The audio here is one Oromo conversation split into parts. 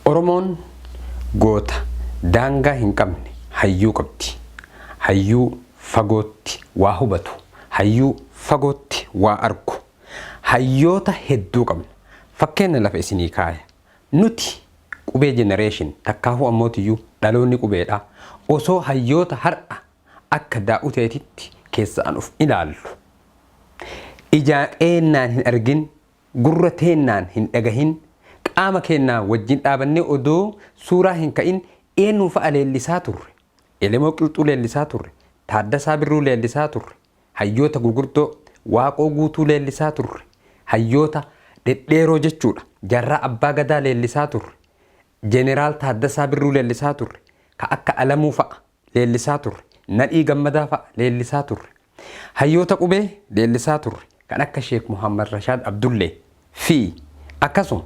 Oromoon goota daangaa hin qabne hayyuu qabdi. Hayyuu fagootti waa hubatu, hayyuu fagootti waa argu. Hayyoota hedduu qabna. Fakkeenna lafa isinii kaaya. Nuti qubee generation takkaahuu ammootiyyuu dhaloonni qubeedha. Osoo hayyoota har'a akka Daa'uteetitti keessaan uf ilaallu ijaa keennaan hin argin Gurra teennaan hin dhagahin, qaama keennaa wajjin dhaabannee odoo suuraa hin ka'in eennu fa'a leellisaa turre? Elemoo Qilxuu leellisaa turre, Taaddasaa Birruu leellisaa turre, hayyoota gugurdoo, Waaqoo Guutuu leellisaa turre, hayyoota dhedheeroo jechuudha, Jaarraa Abbaa Gadaa leellisaa turre, Jeneraal Taaddasaa Birruu leellisaa turre, ka akka Alamuu fa'a. leellisaa turre. Nadhii Gammadaa fa'a leellisaa turre. Hayyoota qubee leellisaa turre kan akka Sheek Muhaammad Rashaad Abdullee fi akkasuma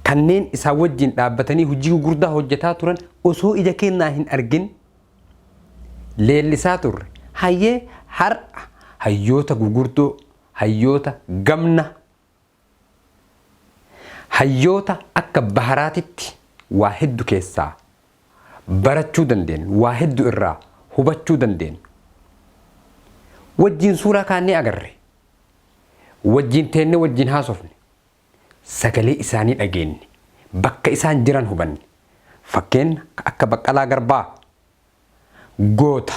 kanneen isaan wajjin dhaabbatanii hojii gugurdaa hojjetaa turan osoo ija keennaa hin argin leellisaa turre. Hayyee har'a hayyoota gugurdoo, hayyoota gamna Hayyoota akka Baharaatitti waa heddu keessaa barachuu dandeennu, waa heddu irraa hubachuu dandeennu. Wajjiin suuraa kaannee agarre. Wajjiin teennee wajjiin haasofne. Sagalee isaanii dhageenne. Bakka isaan jiran hubanne. Fakkeenna akka Baqqalaa Garbaa. Goota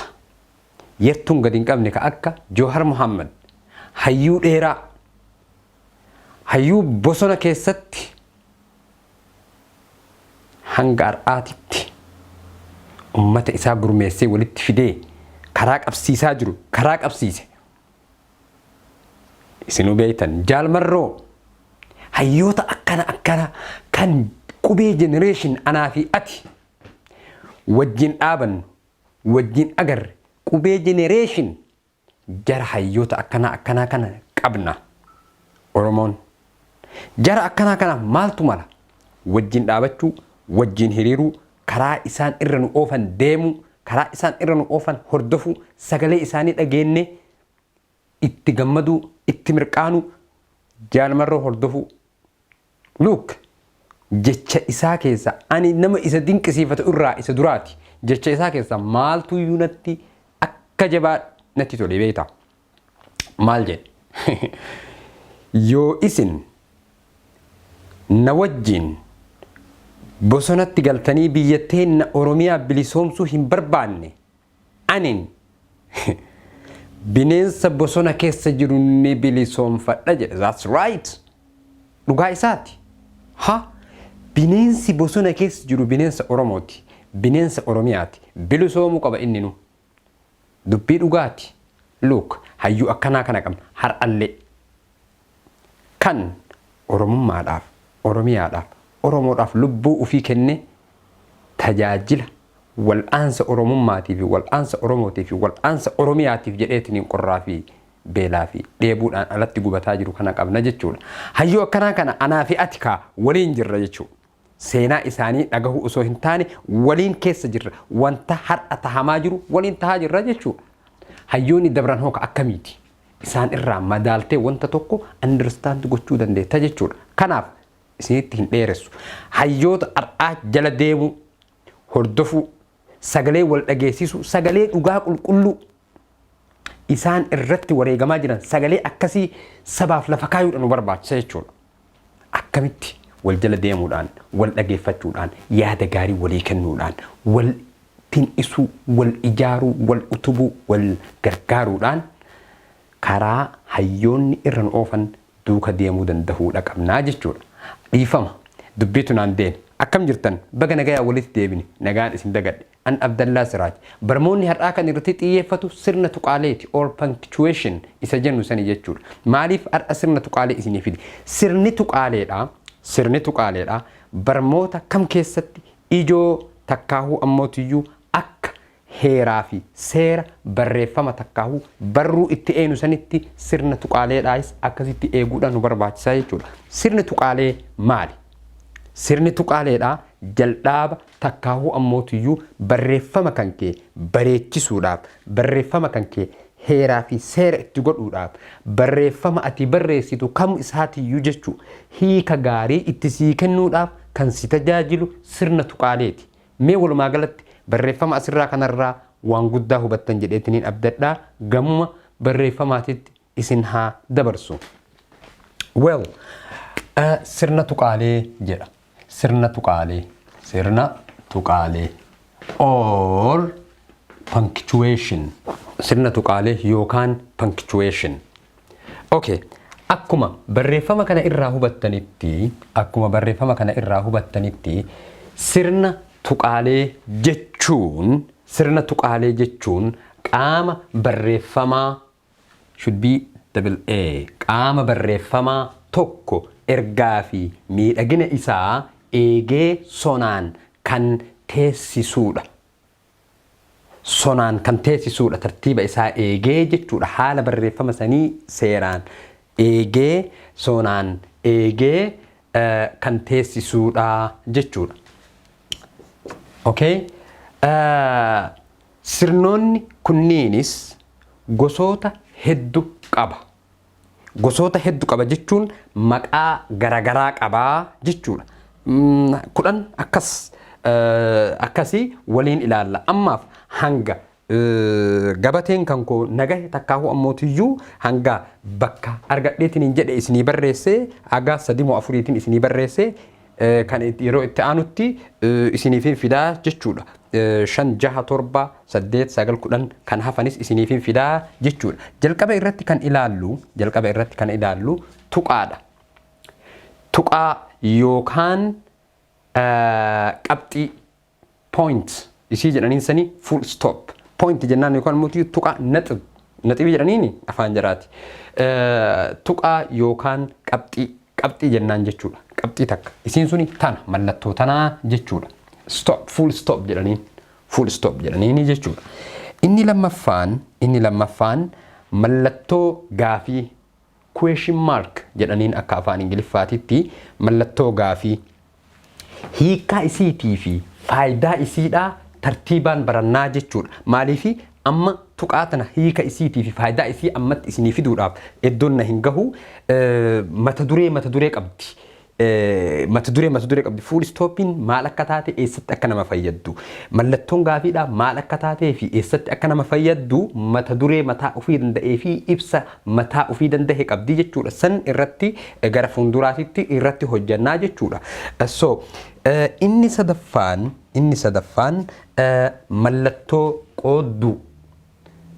yartuun gad hin qabne ka akka Joohar Muhammad, hayyuu dheeraa, hayyuu bosona keessatti hanga ar'aatitti ummata isaa gurmeessee walitti fidee karaa qabsiisaa jiru karaa qabsiise. Isinuu beektan Jaal Marroo hayyoota akkana akkana kan qubee generation anaa fi ati wajjin dhaabannu, wajjin agarre, qubee generation jara hayyoota akkanaa akkanaa kana qabna Oromoon. Jara akkanaa kanaaf maaltu mala? Wajjin dhaabachuu, wajjin hiriiruu, karaa isaan irra nu oofan deemuu, karaa isaan irra nu oofan hordofuu, sagalee isaanii dhageennee itti gammaduu, itti mirqaanuu, Jaal Marroo hordofuu. Look! Jecha isaa keessaa, ani nama isa dinqisiifatu irraa isa duraati, jecha isaa keessaa maaltu iyyuu natti akka jabaa natti tole beektaa? Maal jedhe? Yoo isin na wajjin bosonatti galtanii biyya teenna Oromiyaa bilisoomsuu hin barbaanne, Anin bineensa bosona keessa jiru ni bilisoomfadha jedhe. That's right. Dhugaa isaati. Ha bineensi bosona keessa jiru bineensa Oromooti. Bineensa Oromiyaati. Bilisoomuu qaba inninu. Dubbii dhugaati. Look, hayyuu akkanaa kana qabna. Har'allee. Kan Oromummaadhaaf, Oromiyaadhaaf, Oromoodhaaf lubbuu ufii kennee tajaajila wal'aansa Oromummaatiif fi wal'aansa Oromootiif fi wal'aansa Oromiyaatiif jedheetiniin qorraa fi beelaa fi dheebuudhaan alatti gubataa jiru kana qabna jechuu dha. Hayyuu akkanaa kana anaa fi ati kaa waliin jirra jechuu. Seenaa isaanii dhagahuu osoo hin taane waliin keessa jirra. Wanta har'a tahamaa jiru waliin tahaa jirra jechuu dha. Hayyoonni dabran hoo ka akkamiiti? isaan irraa madaaltee wanta tokko understand gochuu dandeetta jechuudha. Kanaaf isinitti hin dheeressu. Hayyoota har'aa jala deemuu, hordofuu, sagalee wal dhageessisuu, sagalee dhugaa qulqulluu isaan irratti wareegamaa jiran sagalee akkasii sabaaf lafa kaayuudha nu barbaachisa jechuudha. akkamitti wal jala deemuudhaan, wal dhageeffachuudhaan, yaada gaarii walii kennuudhaan, wal tin'isuu, wal ijaaruu, wal utubuu, wal gargaaruudhaan karaa hayyoonni irra nu oofan duuka deemuu dandahuudha qabna jechuudha. Dhiifama, dubbiitu naan deeme. Akkam jirtan? Baga nagayaan walitti deebine. Nagaan isin dagadhe. An Abdallaa Siraaj. Barmoonni har'aa kan irratti xiyyeeffatu sirna tuqaaleeti or punctuation isa jennu sani jechuudha. Maaliif har'a sirna tuqaalee isinii fide? Sirni tuqaaleedha, sirni tuqaaleedha barmoota kam keessatti ijoo takkaahuu ammootiyyuu akka heeraa fi seera barreeffama takkaahuu barruu itti eenu sanitti sirna tuqaaleedhaayis akkasitti eeguudhaan nu barbaachisaa jechuudha. Sirni tuqaalee maali? Sirni tuqaaleedha jaldhaaba Takkaahuu ammootiyyuu barreeffama kan kee bareechisuudhaaf, barreeffama kan kee heeraa fi seera itti godhuudhaaf, barreeffama ati barreessitu kam isaatiyyuu jechuu hiika gaarii itti sii kennuudhaaf kan si tajaajilu sirna tuqaaleeti. Mee walumaa galatti barreeffama asirraa kanarraa waan guddaa hubattan jedheetiniin abdadha. Gamuma barreeffamaatitti isin haa dabarsu. Well, sirna tuqaalee jedha. Sirna tuqaalee. Sirna tuqaalee. Or punctuation. Sirna tuqaalee yookaan punctuation. Okay. Akkuma barreeffama kana irraa hubattanitti, akkuma barreeffama kana irraa hubattanitti sirna tuqaalee jechuun, sirna tuqaalee jechuun qaama barreeffamaa should be double A. Qaama barreeffamaa tokko ergaa fi miidhagina isaa eegee sonaan kan teessisuudha. Sonaan kan teessisuudha tartiiba isaa eegee jechuudha. Haala barreeffama sanii seeraan eegee sonaan eegee eh, kan teessisuudha jechuudha. Okay. Eh, Sirnoonni kunniinis gosoota heddu qaba. Gosoota heddu qaba jechuun maqaa garagaraa qaba jechuudha. 10 akkas akkasii waliin ilaalla. Ammaaf hanga gabateen kan koo nagahe takkaahuu ammootiyyuu hanga bakka argadheetiin hin jedhe isinii barreessee haga sadimoo afuriitiin isinii barreessee kan yeroo itti aanutti isiniifin fidaa jechuudha. shan jaha torba saddeet sagal kudhan kan hafanis isiniifin fidaa jechuudha. Jalqaba irratti kan ilaallu jalqaba irratti kan ilaallu tuqaadha. Tuqaa yookaan qabxii point isii jedhaniin sanii full stop point jennaan yookaan immoo tiyu tuqaa naxib naxibii jedhaniini afaan jaraati tuqaa yookaan qabxii qabxii jennaan jechuudha qabxii takka isiin suni tana mallattoo tanaa jechuudha stop full stop jedhaniin full stop jedhaniini jechuudha inni lammaffaan inni lammaffaan mallattoo gaafii Question mark jedhaniin akka afaan Ingiliffaatitti mallattoo gaafii. Hiikkaa isiitii fi faayidaa isiidhaa tartiibaan barannaa jechuudha. Maaliif amma tuqaa tana hiika isiitii fi faayidaa isii ammatti isinii fiduudhaaf eddoon na hin gahu mata duree mata duree qabdi. Mata duree mata duree qabdi. Fuul istooppiin maal akka taate eessatti akka nama fayyaddu. Mallattoon gaafiidhaa maal akka taatee fi eessatti akka nama fayyaddu mata duree mataa ofii danda'ee fi ibsa mataa ofii danda'e qabdi jechuudha. San irratti gara fuulduraatitti irratti hojjannaa jechuudha. So inni sadaffaan inni sadaffaan mallattoo qoodduu.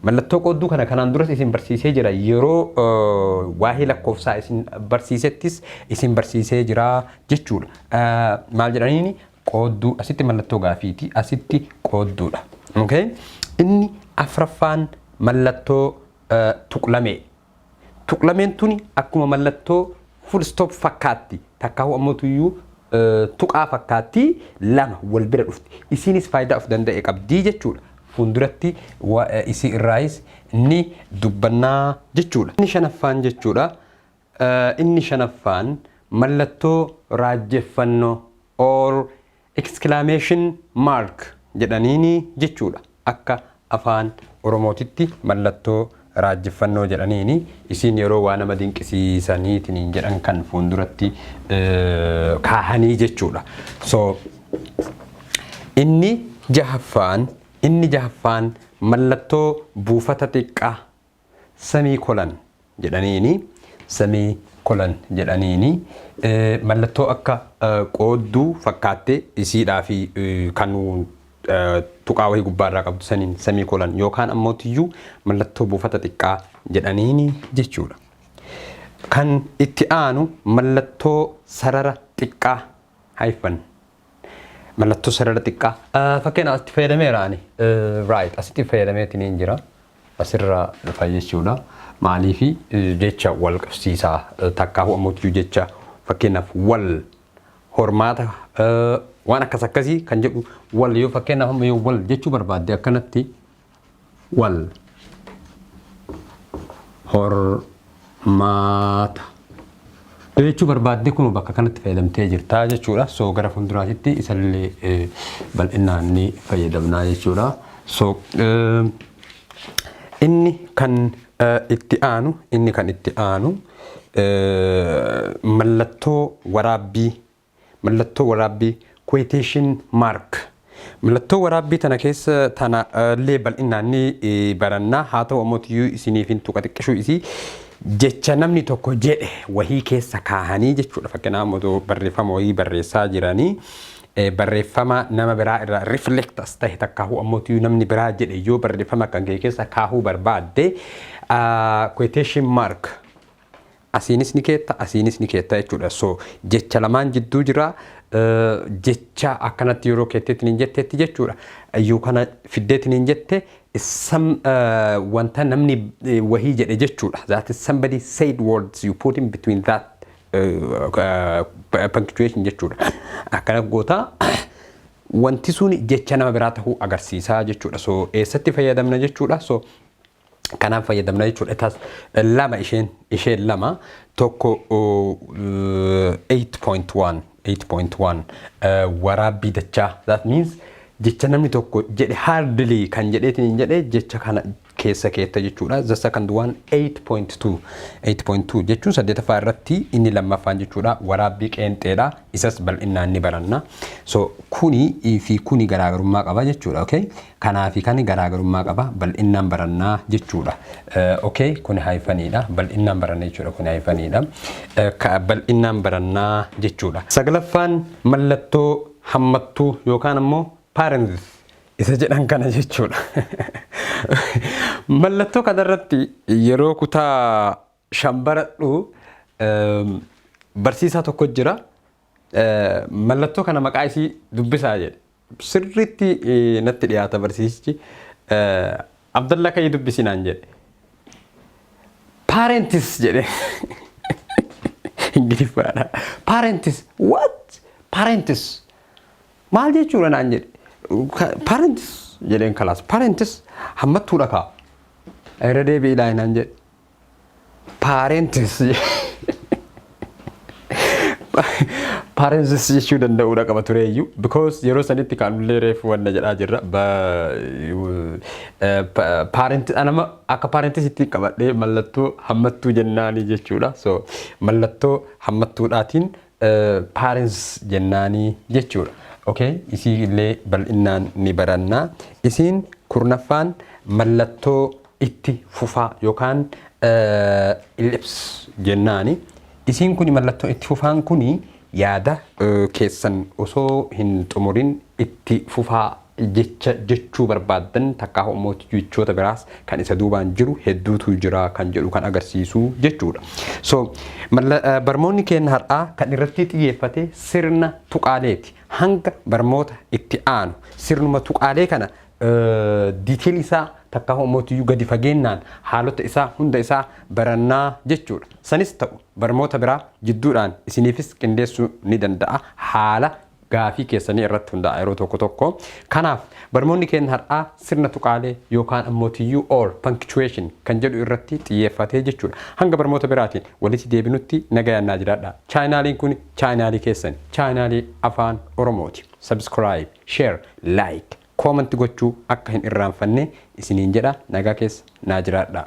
Mallattoo qoodduu kana kanaan duras isin barsiisee jira. Yeroo waa'ee lakkoofsaa isin barsiisettis isin barsiisee jira jechuudha. Maal jedhaniini qoodduu asitti mallattoo gaafiiti asitti qoodduudha. Okay? Inni afraffaan mallattoo tuqlamee Tuqlameen tuni akkuma mallattoo full stop fakkaatti takkaahu ammoo tuyyuu tuqaa fakkaatti lama wal bira dhufti. Isiinis faayidaa of danda'e qabdi jechuudha. Fuulduratti isii irraayis ni dubbannaa jechuudha. Inni shanaffaan jechuudha. Inni shanaffaan mallattoo raajjeffannoo or Exclamation mark jedhaniini jechuudha. Akka afaan oromootitti mallattoo raajjiffannoo jedhaniini. Isiin yeroo waa nama dinqisiisaniitiniin jedhan kan fuunduratti kaahanii jechuudha. So inni jahaffaan inni jahaffaan mallattoo buufata xiqqaa semii kolan jedhaniini semii kolan jedhaniini mallattoo akka qoodduu fakkaattee isiidhaa fi kan tuqaa wahii gubbaa irraa qabdu saniin semii kolan yookaan ammoo tiyyuu mallattoo buufata xiqqaa jedhaniini jechuudha. Kan itti aanu mallattoo sarara xiqqaa haifan Mallattoo sarara xiqqaa. Ah, Fakkeenya asitti fayyadameera ani. Eh, Right, asitti fayyadameetiin hin jira. Asirra dhufa jechuudha. Maaliifi eh, jecha wal qabsiisaa eh, takkaahuu ammoo jecha fakkeenyaaf wal hormaata eh, waan akkas akkasii kan jedhu wal yoo fakkeenyaaf amma yoo wal jechuu barbaadde akkanatti wal hormaata yoo jechuu barbaadde kun bakka kanatti fayyadamtee jirtaa jechuudha. So gara fuulduraatitti isallee eh, bal'inaan ni fayyadamnaa jechuudha. So eh, inni kan eh, itti aanu inni kan itti aanu eh, mallattoo waraabbii Mallattoo waraabbii, quotation mark. Mallattoo waraabbii tana keessa tana illee bal'inaan ni baranna. Haa ta'u ammoo tiyyuu isiniif hin tuqa xiqqishuu isii. Jecha namni tokko jedhe wahii keessa kaahanii jechuudha. Fakkeenyaaf otoo barreeffama wahii barreessaa jiranii barreeffama nama biraa irraa reflect as ta'e takkaahuu ammoo tiyyuu namni biraa jedhe yoo barreeffama kan kee keessa kaahuu barbaadde quotation mark Asiinis ni keetta asiinis ni keetta jechuudha. So jecha lamaan jidduu jira. Jecha akkanatti yeroo keetteetiin hin jetteetti jechuudha. Yoo kana fiddeetiin hin jette some wanta namni wahii jedhe jechuudha. That is somebody said words you put in between that punctuation jechuudha. Akkana goota wanti sun jecha nama biraa tahuu agarsiisaa jechuudha. So eessatti fayyadamna jechuudha. So kanaan fayyadamna jechuudha. It has lama isheen isheen lama tokko uh, 8.1 8.1 uh, waraabbii dachaa that means jecha namni tokko jedhe hardly kan jedheetiin hin jedhe jecha kana keessa keetta jechuudha. The second one 8.2 8.2 jechuun saddeetaffaa irratti inni lammaffaan jechuudha waraabbii qeenxeedha isas bal'inaan ni baranna. So kuni fi kuni garaagarummaa qaba jechuudha. Okay? Kanaa fi kani garaagarummaa qaba. Bal'innaan baranna jechuu dha. Ok kuni hayfanii dha. Bal'innaan baranna jechuu dha. Kuni hayfanii dha. Ka bal'innaan baranna jechuu dha. Saglaffaan mallattoo hammattuu yookaan ammoo parenthesis isa jedhan kana jechuu dha. Mallattoo kana irratti yeroo kutaa shan baradhu. Barsiisaa tokko jira mallattoo kana maqaa isii dubbisaa jedhe. Sirriitti natti dhiyaata barsiisichi. Abdallaa ka'ii dubbisi naan jedhe. Parents jedhe. Ingiliffaadha. Parents what? Parents maal jechuudha naan jedhe. Parents jedheen kalaas. Parents hammattuudha kaa. Irra deebi'i ilaahi naan jedhe. Paareentis paareentis jechuu danda'uudha qaba tureeyyu because yeroo sanitti kaanullee reefu wanna jedhaa jirra paareentis anama akka paareentis itti qabadhee mallattoo hammattuu jennaanii jechuudha so mallattoo hammattuudhaatiin paareentis jennaanii jechuudha. Okay, isii illee bal'innaan ni barannaa. Isiin kurnaffaan mallattoo itti fufaa yookaan ellipse jennaani. Isiin kuni mallattoo itti fufaan kuni yaada keessan osoo hin xumurin itti fufaa jecha jechuu barbaaddan takkaahu ammoo jechoota biraas kan isa duubaan jiru hedduutu jira kan jedhu kan agarsiisu jechuudha. So barmoonni keenya har'aa kan irratti xiyyeeffate sirna tuqaaleeti. Hanga barmoota itti aanu sirnuma tuqaalee kana detail isaa takkaa hoomootiyyuu gadi fageennaan haalota isaa hunda isaa barannaa jechuudha. Sanis ta'u barmoota biraa jidduudhaan isiniifis qindeessuu ni danda'a haala gaafii keessanii irratti hundaa'a yeroo tokko tokko. Kanaaf barmoonni keenya har'aa sirna tuqaalee yookaan ammootiyyuu or punctuation kan jedhu irratti xiyyeeffatee jechuudha. Hanga barmoota biraatiin walitti deebinutti nagayaan naa jiraadhaa. Chaayinaaliin kun chaayinaalii keessan chaayinaalii afaan Oromooti. Subscribe, Share, Like, Comment gochuu akka hin irraanfanne isiniin jedha nagaa keessa naa jiraadhaa.